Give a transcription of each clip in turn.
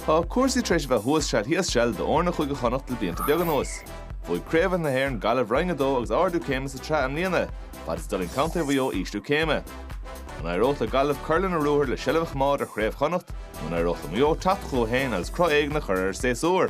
Tá cúrsaí tar éis a bheith thuas seal thíos seal d'fhoirne Chúige Chonnacht le blianta beaga anuas. Bhuaigh Craobhacha na hÉireann Gaillimh Roinn 2 agus ardú céime sa tsraith i mbliana, fad is d'fhulaing contae Mhaigh Eo ísliú céime. An éireodh le Gaillimh cur lena ruathar le seilbh a choimeád ar Chraobh Chonnacht nó an éireodh le Maigh Eo teacht chucu féin agus cruth éigin a chur ar an séasúr?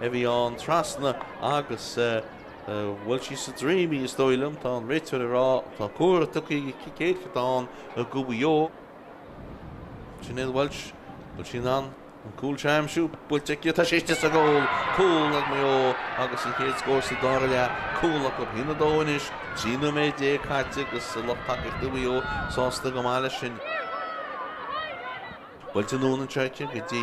a bhí ann trasna agus bhuail sí sa droim í is dóigh liom, tá an réiteoir ag rá tá comhartha tugtha aige cic éirice atá ann do Mhaigh Eo. Sinéad Walsh, bhfuil sí in ann an cúl seo a aimsiú? Buailte aici atá sé istigh sa goal. Cúl ag Maigh Eo agus an chéad scór sa dara leath. Cúl acu a haon a dó anois, 13 nóiméad caite agus lucht tacaíochta Mhaigh Eo sásta go maith leis sin. Buailte anonn anseo aici go dtí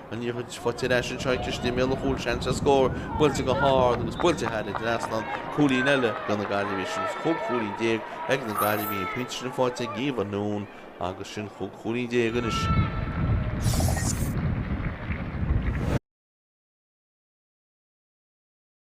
Liathróid faighte ar ais anseo istigh i mbéal an chúil seans ar scór, buailte go hard agus buailte thar an trasnán, cúilín eile do na Gaillimhigh agus chúig chúilín déag ag na Gaillimhigh, an pointe sin faighte ag Eva Noone agus sin chúig chúilín déag anois.